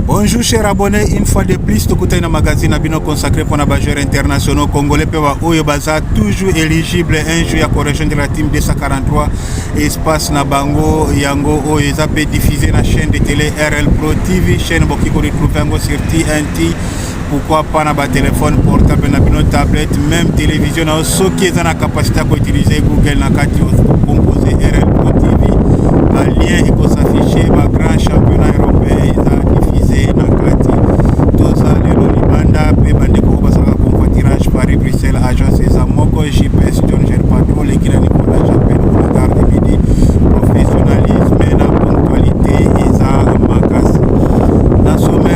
Bonjour cher abonné, une fois de plus tokutani na magazine na bino consacré mpona ba joueurs internationaux congolais mpe ba oyo baza toujours éligible un jour ya correction de la team 243 espace na bango yango oyo eza mpe diffusé na chaîne de télé RL Pro TV chaîne bokoki ko retrouver yango sur TNT pourquoi pas na batelefone portable na bino tablette même télévision na yo soki eza na capacité ya koutilize google na kati compose rlpo tv balien ekosaffiche bagrand championnat européen eza diffuse na kati toza lelo libanda mpe bandeko oyo basalaka convoitirage paris bruxelles agence eza moko gps john ger patro lekila nicola japel onagarde midi professionnalisme na ponctualité eza makasi na sommet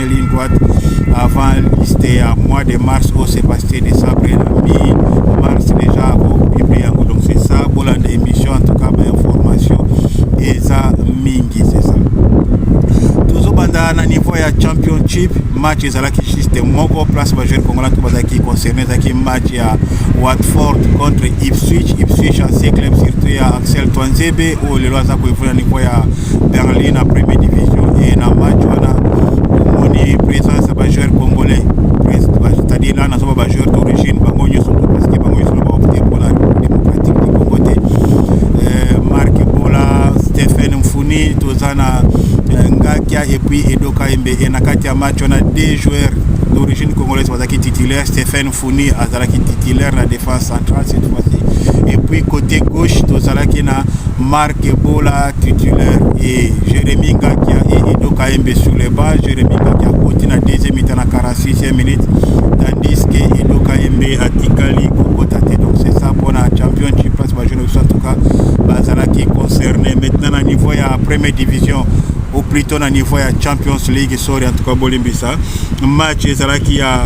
bien ligne droite avant liste ya mois de mars au sébastien décembre et la mi mars déjà publie yango donc c'est ça bolanda émission en tout cas bainformation eza mingi c'est ça tozobanda na niveau ya championship match ezalaki juste moko place bajoueur congolais to bazalaki concerne ezalaki match ya watford contre ipswich ipswich ancien club surtout ya axel twanzebe oyo lelo aza koevole na niveau ya Darly na premier division et na match wana omoni présence ya bajoueur congolais c'est-à-dire là nazoba bajoueur d'origine bango nyonso to parce que bango nyonso baopte mpona démocratique du congo te euh, marc bola stephen mfuni toza na euh, ngakia et puis edoka embe e na kati ya match wana deux joueurs d'origine congolaise bazalaki titulaire stephen Funi azalaki titulaire na défense centrale cette fois-ci. Et puis côté gauche, tozalaki na Marc Ebola titulaire et Jérémy Ngakia et Edo Kaembe sur les bancs. Jérémy Ngakia côté na deuxième mi-temps na 46e minute, tandis que Edo Kaembe atikali kokota te. Donc c'est ça pour la championship parce que jeune en tout cas bazalaki concerné maintenant na niveau ya première division ou plutôt na niveau ya Champions League sorry en tout cas bolimbisa match ezalaki ya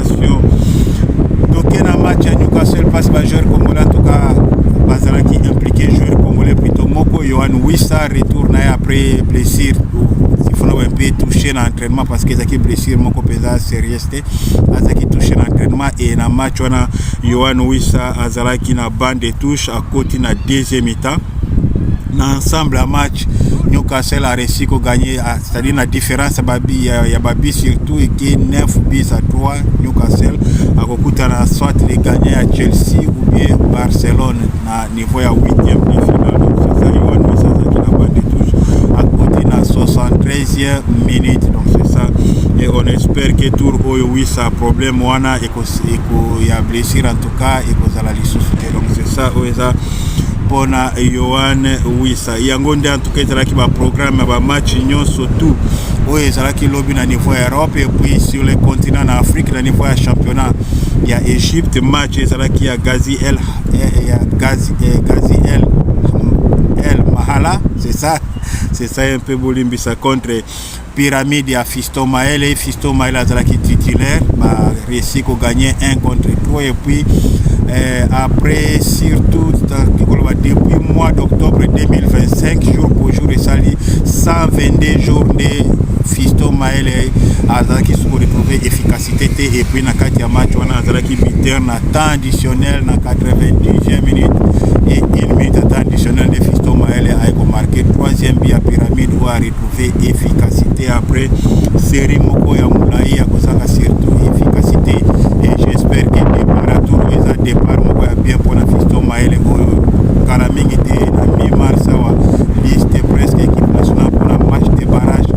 Félicitations. Toke na match ya Newcastle passe ba joueur congolais en tout cas bazalaki impliqué joueur congolais plutôt moko Yohan Wissa retour na ye après blessure ifuna ba mpe touche na entraînement parce que ezalaki blessure moko mpenza sérieuse te azalaki touche na entraînement et na match wana Yohan Wissa azalaki na bande de touche akoti na deuxième mi-temps na ensemble ya match Newcastle a réussi ko gagner c'est-à-dire na différence ya babi ya, ya babi surtout eke 9 bis à 3 Newcastle akokutana soit les gagnants ya Chelsea ou bien Barcelone na niveau ya 8e de finale ça y est nous ça qui n'a pas de touche à côté na 73e minute donc c'est ça et on espère que tour oyo oui ça problème wana et que ya blessure en tout cas et que ça la lisusu donc c'est ça oyo eza pona Yohan Wissa yango nde antuka ezalaki baprogramme ya bamatch nyonso tout oyo ezalaki lobi na niveau ya europe epuis sur le continent na afrique na niveau ya championnat ya egypte match ezalaki ya gazi el eh, ya gazi, eh, gazi el el mahala c'est ça c'est ça un peu bolimbisa contre pyramide ya Fiston Maele. Fiston Maele azalaki titulaire, ba réussi ko gagner 1 contre 3 et puis euh, après surtout koloba depuis mois d'octobre 2025 jour pour jour esali 122 jours nde Fiston Maele azalaki soko retrouver efficacité te et puis na kati ya match wana azalaki buteur na temps additionnel na 90e minute et une minute à temps additionnel de Fiston Maele aye ko marquer troisième but ya pyramide oyo prouver efficacité après série moko ya mulayi ya kozanga surtout efficacité et j'espère que départ à tour eza départ moko ya bien pour la fisto maele oyo kala mingi te na mi mars awa liste presque équipe nationale pour la match de barrage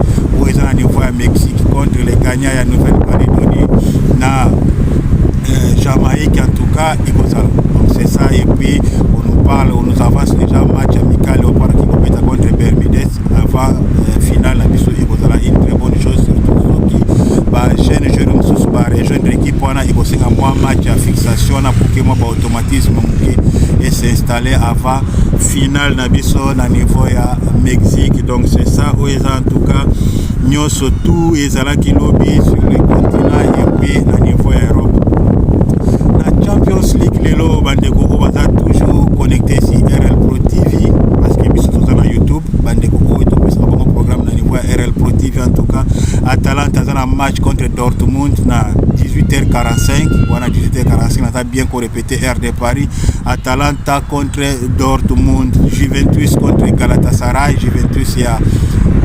oyo eza na niveau ya mexique contre les gagnants ya nouvelle calédonie na euh, jamaïque en tout cas ekozala donc c'est ça et puis on nous parle on nous avance déjà match avant euh, finale na biso ekozala une très bonne chose surtout soki ba jeune jeune mosusu ba rejoindre équipe wana ekosenga mwa match ya fixation wana pour que mwa ba automatisme moke et s'installer avant finale na biso na niveau ya Mexique donc c'est ça oyo eza en tout cas nyonso tout ezalaki lobi sur le continent epuis na niveau ya europe na champions league lelo bandeko oyo baza toujours connecte si rl pro tv parce que biso toza na youtube bandeko oyo topesaka bango programme na niveau ya rl pro tv en tout cas atalanta aza na match contre dortmund na 18h45 wana 18h45 naza bien korepete TR de Paris, Atalanta contre Dortmund, Juventus contre Galatasaray, Juventus ya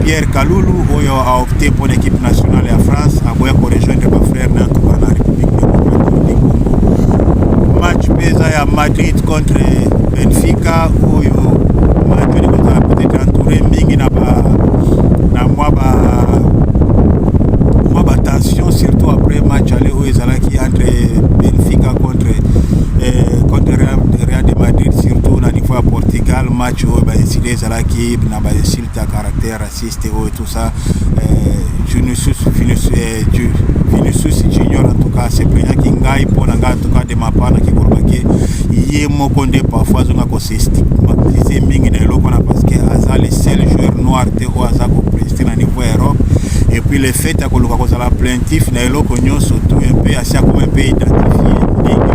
Pierre Kalulu oyo a opté pour l'équipe nationale ya France, aboya ko rejoindre ba frère na tuka na République Démocratique du Congo. Match peza ya Madrid contre Benfica oyo match ni kozala peut-être entouré mingi na ba na mwa ba mwa ba tension surtout après match aller oyo ezalaki entre benfica contre eh, contre real de madrid surtout na niveau ya portugal match oyo baesili ezalaki na bainsulte ya caractère raciste oyo tout ça eh, vinicius eh, vinicius junior en tout cas sepelaki ngai mpo na ngai en tout cas de mapa na kikolobaki ye moko nde parfois azonga kosestigmatise mingi na eloko wana parce que aza le seul joueur noir te oyo aza kopreste na niveau ya europe et puis le fait ya koluka kozala plaintif ya eloko nyonso tu mpe asi akoma mpe identifie ndenge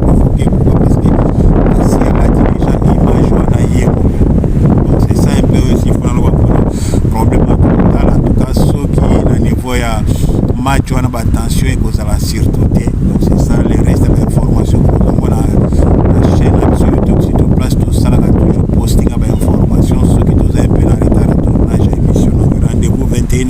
provoke kuka parce que asi alati deja image wana ye moko donc c'est ça un peu oyo sifona loba mpona problème ya kokotala en tout cas soki na niveau ya match wana batension ekozala surtout te donc c'est ça le reste ya bainformation kokomona na chaîne ya biso youtube surtout place tosalaka toujours posting ya bainformation soki toza mpe na retard ya tournage ya émission donc rendez-vous 21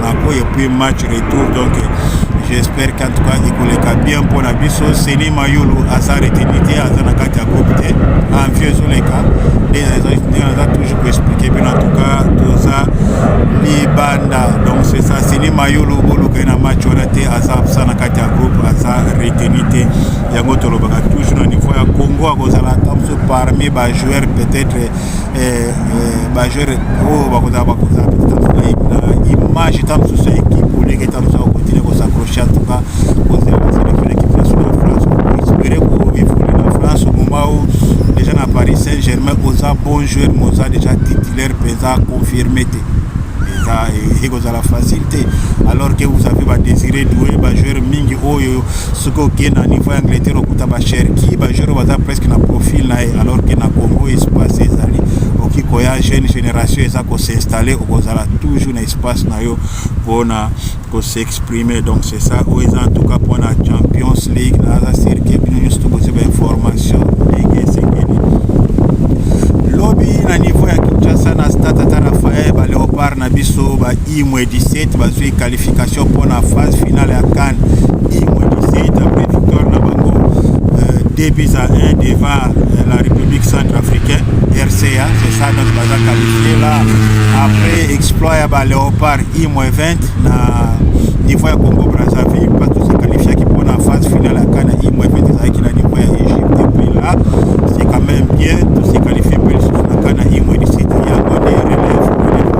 Monaco et puis match retour donc j'espère qu'en tout cas ekoleka bien mpo na biso seni mayulu aza retenu te aza na kati ya groupe te envie ezoleka nde naza toujours koexplike bino en tout cas toza libanda donc c'est ça seni mayulu boluka ye na match wana te aza absa na kati ya groupe aza retenu te yango tolobaka toujours na niveau ya congo akozala ata mosusu parmi bajoueur peut-être eh, eh, bajeur oyo oh, bakozala bakozala na image ta mosusu ya ekipe olenge ta mosusu akokontinue kosaccroche en tout cas kozela baselektion ya ekipe national ya france espere koevole na france moma o déjà na paris saint germain oza bon joueur mais oza déjà titulaire mpenza confirme te eza ekozala facile te alors que vous avez badésiré doue bajoueur mingi oyo soki okei na niveau ya angleterre okuta bacherki bajoueur baza presque na profil na ye alors que na congo espace ezali oki koya jeune génération eza ko s'installer okozala toujours na espace na yo mpona ko s'exprimer donc c'est ça oyo eza en tout cas mpona champions league naza sur que bino nyonso tokozia bainformation ndenge esengeli lobi na niveau ya kinshasa na stade tata rafael baleopard na biso ba imwe 17 bazwi qualification mpo na phase finale ya CAN imwe 17 après victoire na bango 2 euh, buts à 1 devant euh, la République centrafricaine RCA c'est ça donc baza qualifié là après exploit ya ba Léopard imwe 20 na niveau ya Congo Brazzaville parce que c'est qualifié qui mpo na phase finale ya CAN imwe 20 ezalaki na niveau ya Égypte et puis là c'est quand même bien tout se qualifié mpe lisusu na CAN imwe 17 yango nde relève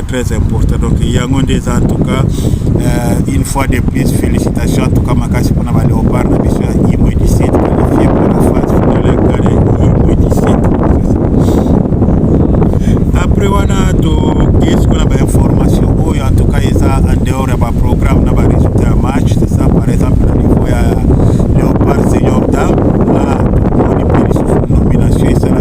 très important donc yango nde eza en tout cas euh, une fois de plus félicitations en tout cas makasi mpona ba léopard na biso ya imo du sud qualifie mpona phase finale kare imo du sud après wana tokei siko na bainformation oyo en tout cas eza en dehors ya baprogramme na baresultat ya match c'est ça par exemple na niveau ya léopard senior dame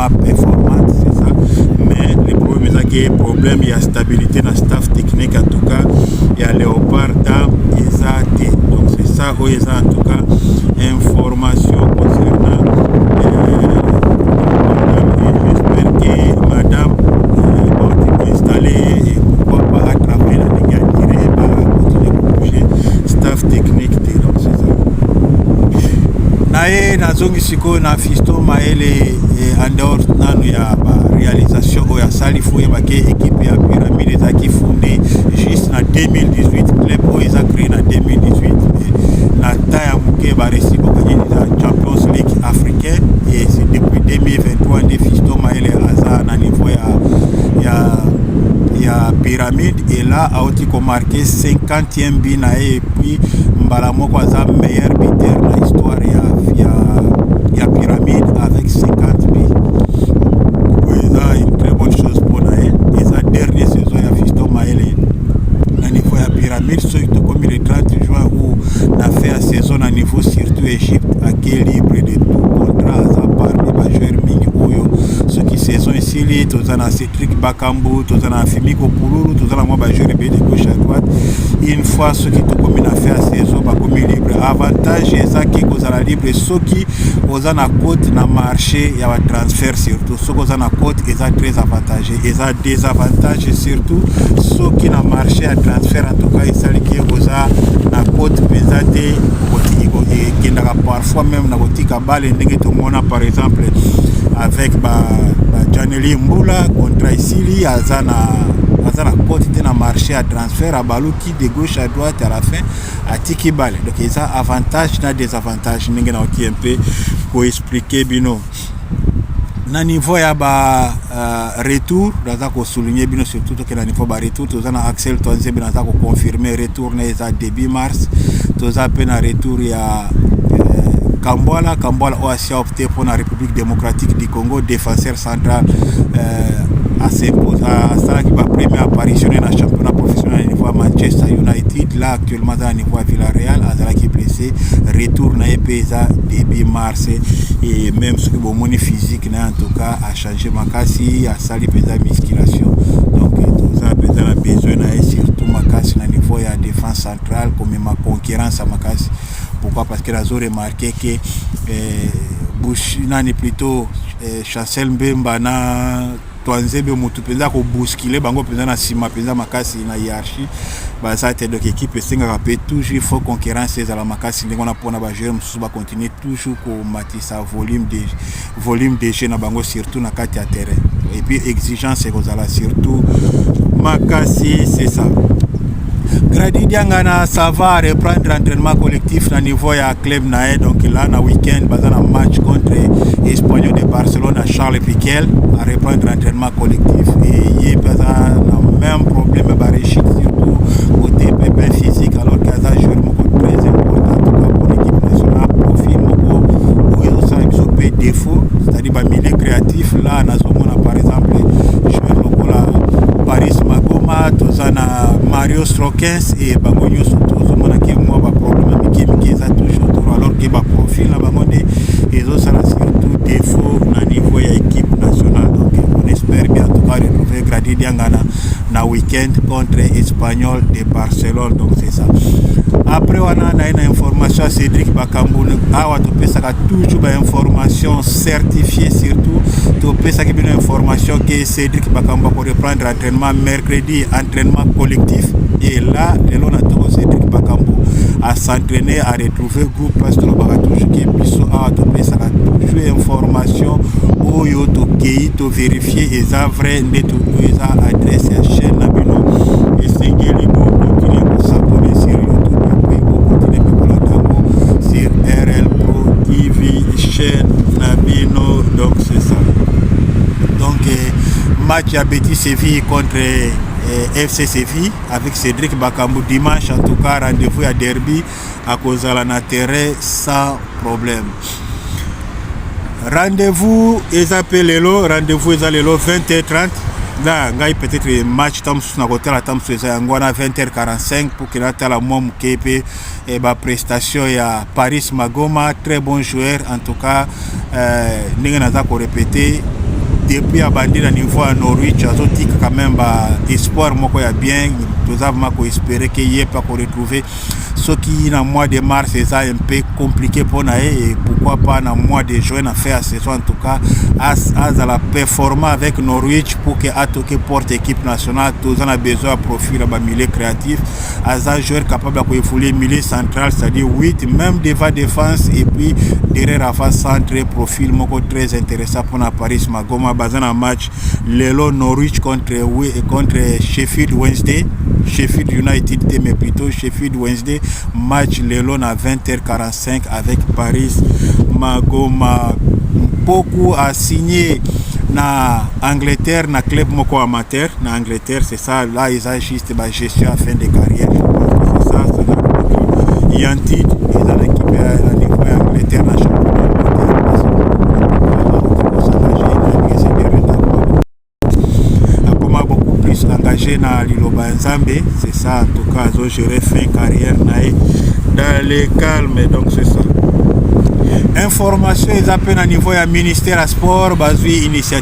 pas performante c'est ça mais le problème eza ke problème ya stabilité na staff technique en tout cas ya léopard ta eza te donc c'est ça oyo eza en tout cas information concernant sikoyo na fisto mayele eh, en dehors nanu ya barealisation oyo asali fo oyebake ekipe ya pyramide ezalaki funde juste na 2018 club oyo eza cree na 2018 na temps ya moke baresi kokaki na champions league africain et c'est depuis 2023 nde fisto mayele aza na niveau ya ya ya pyramide et là auti komarke 50 tient bi na ye et puis mbala moko aza meilleur buteur na histoire ya, ya, ya pyramide avec 50 bi oyo eza une très bonne chose mpo na ye eza dernier saison ya fisto maele na niveau ya pyramide soki tokomi le 30 juin ou na fin ya saison na niveau surtout égypte ake libre de tout contrat aza parmi bajoueur mingi oyo soki saison esili toza na Patrick Bakambu, toza na Fimiko Pululu, toza na mwa ba joueurs ebele de gauche à droite. Une fois soki tokomi na fin ya saison bakomi libre. Avantage ezaki kozala libre soki oza na cote na marché ya ba transfert surtout soki oza na cote eza très avantage, eza désavantage surtout soki na marché ya transfert en tout cas esaliki oza na cote mpenza te ekendaka parfois même na kotika bale ndenge tomona par exemple avec ba, ba janelie mbula contrat esili aza na aza na cote te na marché ya transfert abaluki de gauche à droite à la fin atiki bale donc eza avantage na désavantage ndenge naoki mpe koexplike bino na niveau ya ba uh, retour naza kosouligne bino surtout kena nivo ba retour toza na axel twanzebe naza koconfirme retour na eza début mars toza mpe na retour ya euh, kambwala kambwala oyo asia opte mpo na république démocratique du congo défenseur central euh, asalaki bapremier apparitionne na championnat professionnel na niveau ya manchester united là actuellement aza na niveau ya villareal azalaki blessé retour na ye mpe eza début mars et même soki bomoni physique na ye en tout cas danger makasi asali mpenza musculation donc toza mpenza na besoin na ye surtout makasi na niveau ya défense centrale komema concurrence ya makasi pourquoi parce que nazo remarquer que eh, bush nani plutôt eh, chancel mbemba na twanzebe motu mpenza kobuskile bango mpenza na nsima mpenza makasi na hiérarchie baza te donc équipe esengaka mpe toujours il faut concurrence ezala makasi ndenge wana mpona bajoueur mosusu bacontinue toujours komatisa volume de volume de jeu na bango surtout na kati ya terrain et puis exigence ekozala surtout makasi c'est ça Grady Diangana ça va reprendre entraînement collectif na niveau ya club na ye donc là na week-end baza na match contre Espanyol de Barcelone à Charles Piquel à reprendre entraînement na collectif et ye mpe aza na même problème ya barechite surtout côté pepin physique alors que aza jour moko très important toka pour équipe nationale profil moko oyo ezosala biso mpe défaut c'est-à-dire bamilieu créatif là nazomona par exemple joueur lokola paris magoma toza na mario strokens et bango nyonso que ba profil na bango nde ezosala surtout défaut na niveau ya équipe nationale donc on espère bien tout cas retrouver Grady Diangana na week-end contre Espagnol de Barcelone donc c'est ça après wana naye na information ya cédric bakambu awa topesaka toujours bainformation certifié surtout topesaki bino information ke cédric bakambu akoreprendre entraînement mercredi entraînement collectif et là lelo na togo cédric bakambu asentraîne aretrouve mauvais goût parce tolobaka toujours ke biso awa topesaka toujours information oyo tokei toverifie eza vrai nde eza adresse ya chaîne na bino esengeli bokontinue kosabone sur youtube epuis bokontinue mpe kolanda yango sur rl pro tv chaîne na bino donc c'est ça donc eh, match ya petit séville contre eh, FC Séville avec Cédric Bakambu dimanche. En tout cas, rendez-vous à Derby. akozala na terrain sans problème rendez-vous eza mpe lelo rendez-vous eza lelo 20h30 na ngai peut-être match ta mosusu nakotala ta mosusu eza yango wana 20h45 mpo ke natala mwa moke mpe eh, baprestation ya paris magoma très bon joueur en tout cas euh, ndenge naza korepete depuis abandi na niveau ya norwich azotika quand même ba espoir moko ya bien toza vraimen koespere ke ye mpe akoretrouve soki na mois de mars eza un peu compliqué mpo na ye et pourquoi pas na mois de juin na fin ya saison en tout cas azala performant avec norwich pour que atoke porte équipe nationale toza na besoin ya profil ya bamilieu créatif aza joueur capable ya koevolue milieu central c'est-à-dire 8 même devant défense et puis derrière avant centre profil moko très intéressant mpo na paris magoma baza na match lelo Norwich contre contre Sheffield Wednesday Sheffield United te mais plutôt Sheffield Wednesday match lelo na 20h45 avec Paris Magoma Mpoku a signé na Angleterre na club moko amateur na Angleterre Ça là eza juste ba gestion à fin de carrière. C'est ça, ça là. Il y a un titre, ils ont récupéré la niveau ya Angleterre na championnat. Akoma beaucoup plus engagé na liloba ya Nzambe, c'est ça en tout cas azo gérer fin carrière na ye dans le calme donc c'est ça. Information eza mpe na niveau ya ministère ya sport bazwi initiative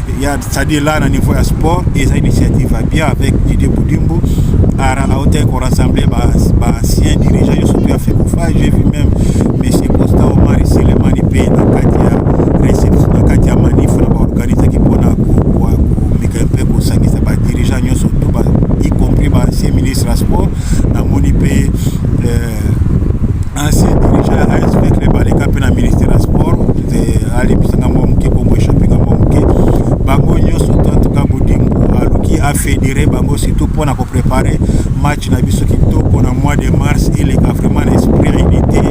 ya c'est-à-dire là na niveau ya sport eza initiative ya bien avec Didier Boudimbo autaki korassembler baancien dirigeant yo surtout ya fekofa j'ai vu même monsieur costa omari selemani mpe na kati ya reception na kati ya manif na baorganisaki mpona komeka mpe kosangisa badirigeant nyonso to y compris baancien ministre ya sport namoni mpe euh, Ainsi, dirigeant ya ASV Club aleka mpe na ministère ya sport nze alibisa ngambo ya moke bongo echappe ngambo ya moke bango nyonso tantuka bodimbu aluki afedere bango surtout mpo na koprepare match na biso kitoko na mois de mars eleka vraiment na esprit ya unité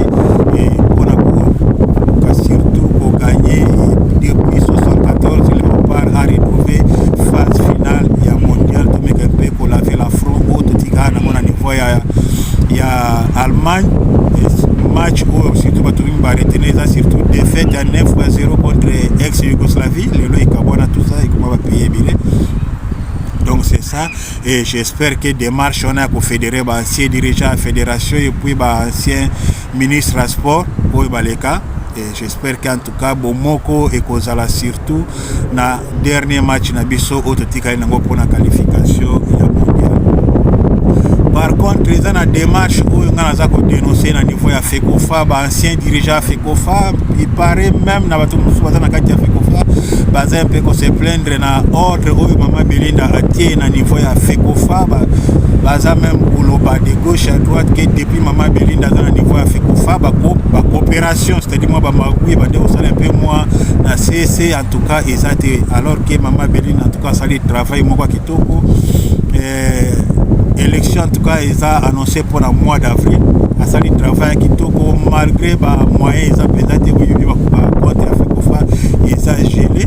mpo na koka surtout koganye depuis 74 leopard a retrouve phase finale ya mondial tomeka mpe kolave la front oyo totika na mona niveau ya ya Allemagne match oyo surtout bato mingi baretene eza surtout défaite ya 9 ba 0 contre ex yougoslavie lelo ekabwana tout ça ekoma bapaye ebele donc c'est ça et j'espère que démarche wana ya kofédéré baancien dirigeant ya fédération epuis baancien ministre ya sport oyo baleka J'espère qu'en tout cas bomoko ekozala surtout na dernier match na biso oyo totikali nango mpona qualification ya mondial. Par contre eza na démarche oyo ngai naza kodenonce na niveau ya FECOFA, ba ancien dirigeant ya FECOFA, il paraît même na bato mosusu baza na kati ya FECOFA baza mpe ko se plaindre na ordre oyo mama Belinda atie na niveau ya FECOFA ba, baza meme koloba de gauche à droite que depuis mama Belinda aza na niveau ya FECOFA ba coopération distraction c'est-à-dire mwa bamagui ebandi kosala mpe mwa na sese en tout cas eza te alors ke mama beline en tout cas asali travail moko ya kitoko eh, élection en tout cas eza annoncé mpo na mois d'avril asali travail ya kitoko malgré bamoyen eza mpenza te boyebi bakoba compte ya fekofa eza gele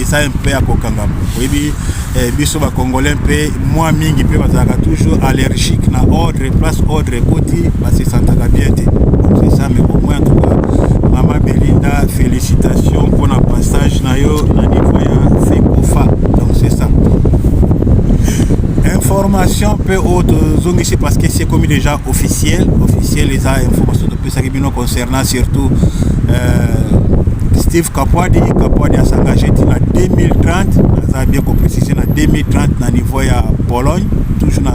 eza mpe ya kokangama oyebi eh, biso bacongolais mpe mwa mingi mpe bazalaka toujours allergique na ordre place ordre ekoti basesantaka bien te eza mais au moins tuka mama belinda félicitation mpo na passage na yo na niveau ya fekofa donc c'est ça information mpe oyo tozongisi parce que c'est commis déjà officiel officiel eza information pesaki bino concernant surtout euh, steve kapwadi kapwadi asengage ti na 2030 aza bien koprécise na 2030 na niveau ya pologne toujours na,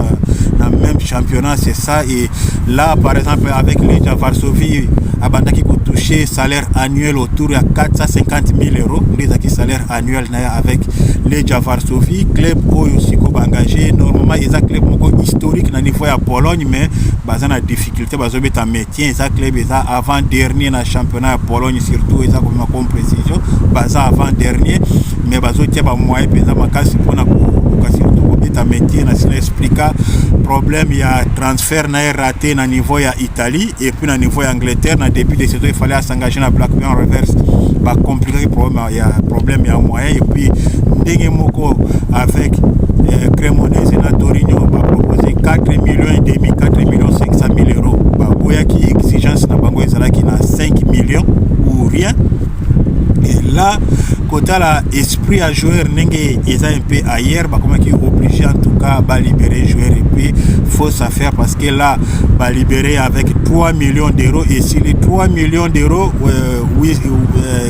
na même championnat c'est ça et là par exemple avec leja varsovie abandaki kotouche salaire annuel autour ya 450 000 euros nde ezalaki salaire annuel na ye avec leja varsovie club oyo siko baengage normalement eza club moko historique na niveau ya pologne mais baza na difficulté te bazobeta maintien eza club eza avant dernier na championnat ya pologne surtout eza komema comme précision baza avant dernier mais bazotia bamoyen mpenza makasi mpona koluka surtout kobeta maintien na sila explika problème ya transfert na ye raté na niveau ya italie et puis na niveau ya angleterre na début de saison efale asengage na blackburn reverse bacomplikaki problème ya problème ya moyen et puis ndenge moko avec euh, Cremonese na Torino ba proposer 4 millions et demi 4 millions 500 000 euros ba boyaki exigence na bango ezalaki na 5 millions ou rien et là kotala esprit ya joueur ndenge eza un peu ailleurs bakomaki obligé en tout cas balibere joueur et puis faut ça faire parce que là balibere avec 3 millions d'euros esili 3 millions d'euros euh, oui, euh,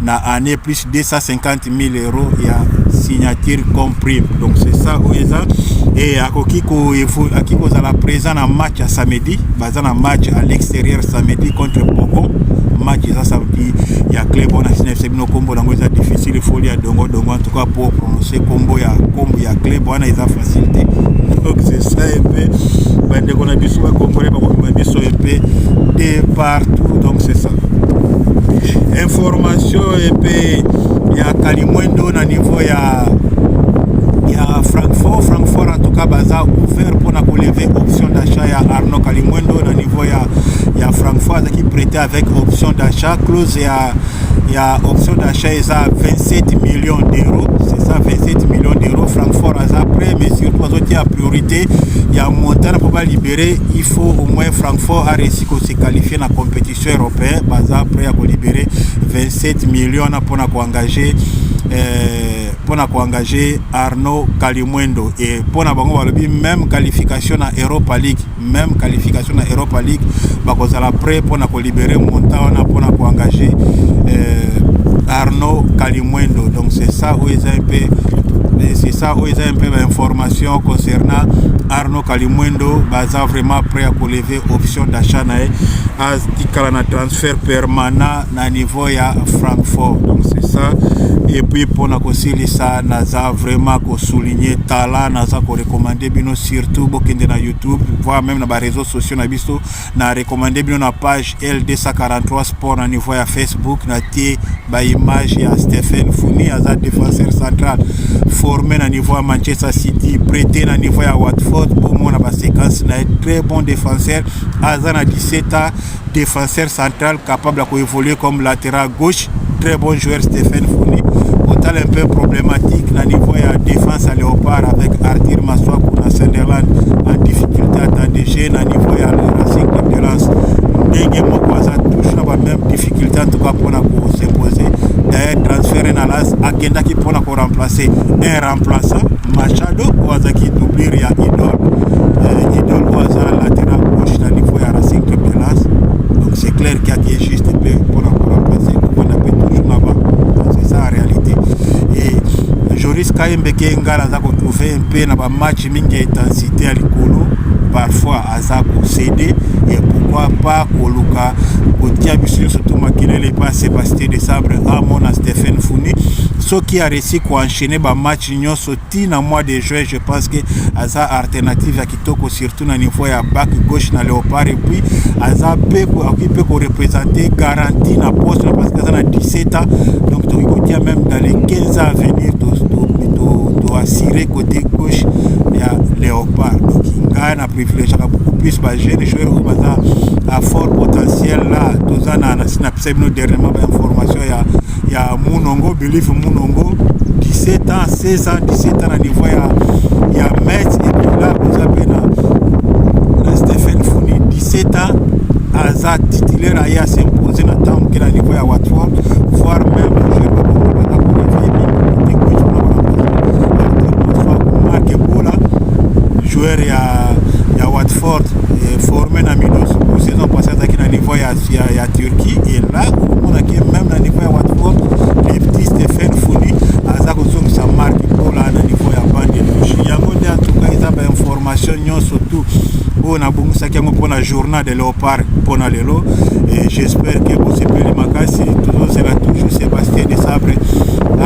na année plus 250 000 euros ya signature comme prime donc c'est ça oyo eza e akoki akoki kozala présent na match ya samedi baza na match à l'extérieur samedi contre Bogo match eza samedi ya club wana sina yebisa bino nkombo yango eza difficile ifoli ya dongo dongo en tout cas pour prononcer nkombo ya nkombo ya club wana eza facile te donc c'est ça un peu bandeko na biso bakongole bakomema biso un peu de partout donc c'est ça information epe ya kalimwendo na niveau ya ya francfort francfort en tout cas baza ouvert mpona koleve option d'achat ya arnaud kalimwendo na niveau ya ya francfort azalaki prête avec option d'achat close ya ya option d'achat eza 27 millions d'euros c'est ça 27 millions d'euros francfort aza prêt mais surtout azotia priorité ya montant mpo balibere il faut au moins francfort aresi se qualifier na compétition européen baza prêt ya kolibere 27 million wana mpona koengage eh, mpona koengage arnaud kalimwendo e mpona bango balobi même qualification na europa league même qualification na europa league bakozala prêt mpona kolibere montant wana mpona koengage eh, arnaud kalimwendo donc c'est ça oyo eza mpe c'est ça oyo eza mpe bainformation concernant arnaud kalimwendo baza vraiment prêt ya koleve option d'achat na ye atikala na transfert permanent na niveau ya francfort donc c'est ça et puis mpona kosilisa naza vraiment kosouligne tala naza korekomande bino surtout bokende na youtube voire même na bareseau sociaux na biso na rekomande bino na page l 243 Pour na niveau ya Facebook na tie ba image ya Stephen Funi aza défenseur central formé na niveau ya Manchester City prêté na niveau ya Watford bomona ba séquence na très bon défenseur aza na 17 ans défenseur central capable ya koévoluer comme latéral gauche très bon joueur Stephen Funi otala un peu problématique na niveau ya défense ya Léopard avec Arthur Maswaku na Sunderland en difficulté attendue juger na niveau ya racing d'endurance ndenge moko aza toujours na ba même difficulté en tout cas mpona kosepoze d'ailleurs transfere na las akendaki mpona koremplacer un remplaçant machado oyo azalaki doublure ya idole euh, idole oyo aza latéral gauche na niveau ya racing d'endurance donc c'est clair kiaki juste mpe mpona koremplacer kovanda mpe toujours na ba c'est ça en réalité et joris kayembe ke ngala aza kotrouve mpe na bamatch mingi ya intensité ya likolo parfois aza kosede et pourquoi pas koluka kotia biso nyonso to makelele epa sébastien de sabre amon na stephen funi soki aresi koenchaîne bamatch nyonso ti na mois de juin je pense que aza alternative ya kitoko surtout na niveau ya bac gauche na léopard epuis aza mpe akoki mpe korepresente garantie na poste na parce que aza na 17 ans donc tokoki kotia même dans les 15 ans à venir toassurer to, to, to cote gauche ya leopard donc ngai na privilegiaka beaucoup plus ba jeune joueur oyo baza à fort potentiel là toza na nasi na pesa bino dernièrement ba information ya ya munongo believe munongo 17 ans 16 ans 17 ans na niveau ya ya match et puis là boza mpe na Seta aza titulaire aye asimponse na ntango moke na niveau ya watford voire même joueur ya, ya watford eh, formé na midos saison passé azalaki na niveau ya, ya, ya turquie et là omonaki même na niveau ya watford le petit stephen foni aza kozongisa marque mpola na niveau ya bande yango nde antuka eza bainforme information nyonso tout oyo nabongisaki yango mpona journal de leopard mpona lelo et j'espère que bosepeli makasi tozozela toujours sébastien de sabre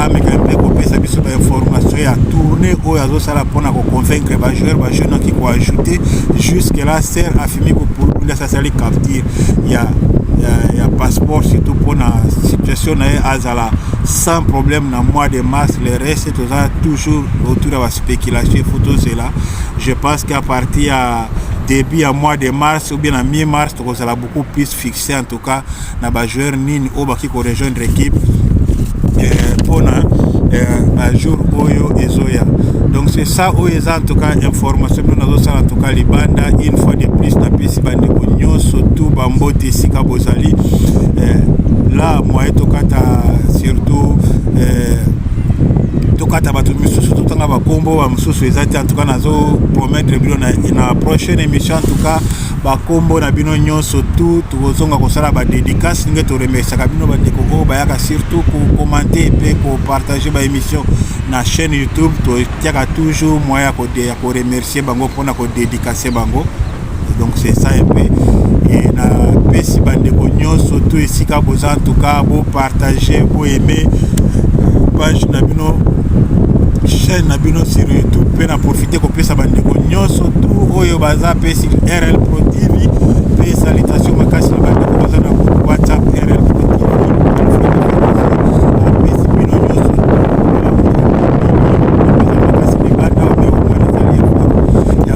ameka mpe kopesa biso bainformation ya tourne oyo azosala mpona koconvaincre bajoueur bajeune oki koajoute jusque la ser afimi kopulukunda sasali capture ya ya, ya passeport surtout mpona situation na ye azala sans problème na mois de mars le reste toza toujours autour ya baspéculation efo tozela je pense qu'à partir ya début ya mois de mars ou bien na mi mars tokozala beaucoup plus fixé en tout cas na bajoueur nini oyo bakoki korejoindre équipe mpona euh, euh, bajour oyo ezoya donc c'est ça oyo eza en tout cas information bino nazosala en tout cas libanda une fois de plus napesi bandeko nyonso tout bambote esika bozali euh, là moye tokata surtout tokata bato misusu totanga bakombo susu eza te antuka nazo promettre bino na, na prochaine émission antuka bakombo na bino nyonso tu tokozonga kosala badédicace ndenge toremesaka bino bandeko oyo bayaka surtout kokommente mpe kopartage baémission na chaîne youtube totiaka toujours moyen ya koremercie bango mpona kodédicace bango donc c'est ça un peu et na pesi bandeko nyonso to esika boza en tout cas bo partager bo aimer page na bino chaîne na bino sur youtube mpe na profite kopesa bandeko nyonso tu oyo baza mpe sur rl pro tv mpe salitation makasi na bandeko baza na groupe whatsapp rl pro tv apesi bino nyonso ya